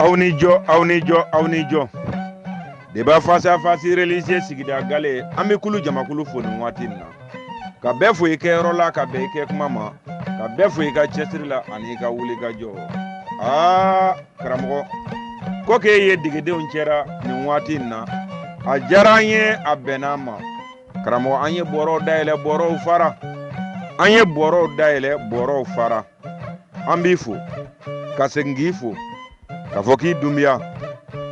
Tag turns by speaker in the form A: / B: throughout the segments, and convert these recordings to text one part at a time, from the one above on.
A: aw ni jɔ aw ni jɔ aw ni jɔ deba fasa fasi religieux sigida gale an bɛ kulu jamakulu fo nin waati nin na ka bɛɛ fo i kɛyɔrɔ la ka bɛn i kɛ kuma ma ka bɛɛ fo i ka cɛsiri la ani i ka wuli ka jɔ aa karamɔgɔ ko k'i ye degedenw cɛ ra nin waati nin na a diyara an ye a bɛnna an ma karamɔgɔ an ye bɔrɔw dayɛlɛ bɔrɔw fara an ye bɔrɔw dayɛlɛ bɔrɔw fara an b'i fo ka segin k'i fo k'a fɔ k'i dunbiya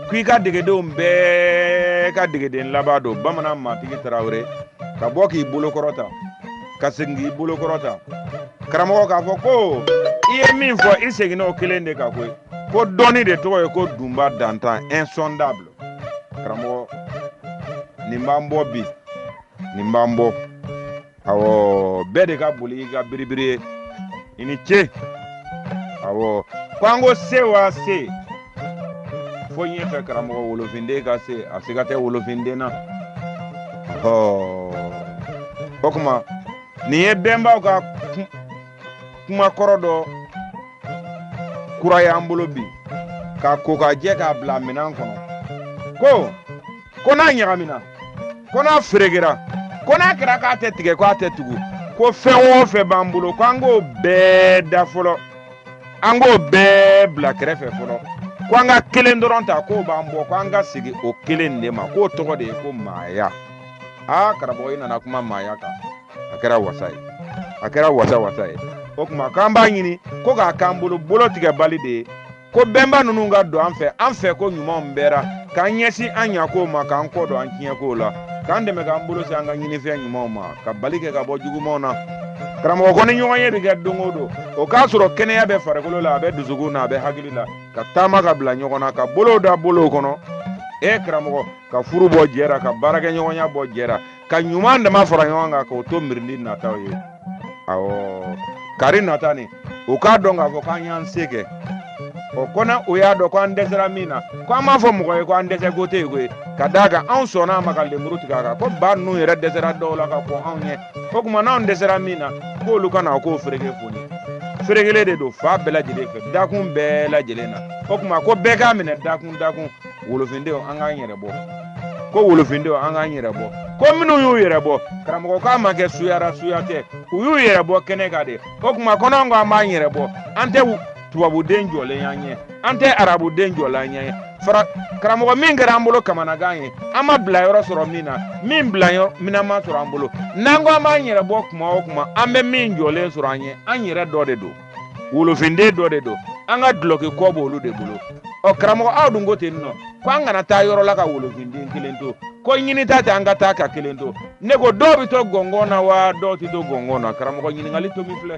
A: ko i ka degedenw bɛɛ ka degeden laban don bamanan matigi tarawele ka bɔ k'i bolo kɔrɔta ka segin k'i bolo kɔrɔta karamɔgɔ k'a fɔ ko i ye min fɔ i seginna o kelen de kan koyi ko dɔnni de tɔgɔ ye ko dunba dantan insondable karamɔgɔ nin b'an bɔ bi nin b'an bɔ ɔ bɛɛ de ka boli i ka biribiri ye i ni ce ɔ ko an ko se wa se fo ɲɛfɛ karamɔgɔ wolofinden ka se a siga tɛ wolofinden na ɔ o kuma nin ye bɛnbaw ka kuma kɔrɔ dɔ kura y'an bolo bi k'a ko k'a jɛ k'a bila minɛn kɔnɔ ko ko n'a ɲagamina ko n'a feregera ko n'a kɛra k'a tɛ tigɛ ko a tɛ tugu ko fɛn o fɛn b'an bolo ko an k'o bɛɛ da fɔlɔ an k'o bɛɛ bila kɛrɛfɛ fɔlɔ ko an ka kelen dɔrɔn ta k'o b'an bɔ ko an ka segin o kelen de ma k'o tɔgɔ de ye ko maaya aa karamɔgɔ i nana kuma maaya kan a kɛra wasa ye a kɛra wasa wasa ye o kuma k'an b'a ɲini ko k'a k'an bolo bolo tigɛbali de ye ko bɛnba ninnu ka don an fɛ an fɛko ɲuman bɛɛ ra k'an ɲɛsin an ɲakow ma k'an kɔ don an tiɲɛkow la k'an dɛmɛ k'an bolo se an ka ɲinifɛn ɲumanw ma ka bali kɛ ka bɔ jugumanw na karamɔgɔ ko ni ɲɔgɔnye bɛ kɛ don o don o k'a sɔrɔ kɛnɛya bɛ farikolo la a bɛ dusukun na a bɛ hakili la ka taama ka bila ɲɔgɔn na ka bolow da bolow kɔnɔ e karamɔgɔ ka furu bɔ jɛ ra ka baarakɛɲɔgɔnya bɔ jɛ ra ka ɲuman dama fara ɲɔgɔn kan k'o to mirindi nataw ye awɔ kari nata nin u k'a dɔn k'a fɔ k'an y'an se kɛ o kɔnɔ o y'a dɔn ko an dɛsɛra min na ko an m'a fɔ mɔgɔ ye ko an dɛsɛko tɛ yen koyi ka d'a kan anw sɔnna a ma ka lemuru tigɛ a kan ko ba ninnu yɛrɛ dɛsɛra dɔw la ka kɔn anw ɲɛ o kuma n'anw dɛsɛra min na k'olu ka na k'o fereke foni ferekelen de don fan bɛɛ lajɛlen fɛ dakun bɛɛ lajɛlen na o kuma ko bɛɛ k'a minɛ dakun dakun wolofindenw an k'an yɛrɛ bɔ ko wolofindenw an k'an yɛrɛ bɔ ko minnu y'u yɛrɛ bɔ karamɔgɔ k'a ma kɛ suya ra suya tɛ u y'u yɛrɛ bɔ kɛnɛ kan de o kuma ko n'anw ko an b'an yɛrɛ bɔ an tɛ tubabuden jɔlen y'an ɲɛ an tɛ arabuden jɔlen y'an ɲɛ fara karamɔgɔ min kɛra an bolo kamanagan ye an ma bilayɔrɔ sɔrɔ min na min bilaminɛn ma sɔrɔ an bolo n'an ko an b'an yɛrɛ bɔ kuma o kuma an bɛ min jɔlen sɔrɔ an ɲɛ an yɛrɛ dɔ de don wolofinden dɔ de don an ka dulɔki kɔ b'olu de bolo ɔ karamɔgɔ aw dun ko ten nɔ ko an kana taa yɔrɔ la ka wolofinden kelen to ko ɲinita tɛ an ka taa ka kelen to ne ko dɔw bɛ to gɔngɔn na wa dɔw tɛ to gɔngɔn na karamɔgɔ ɲininkali tɔ min filɛ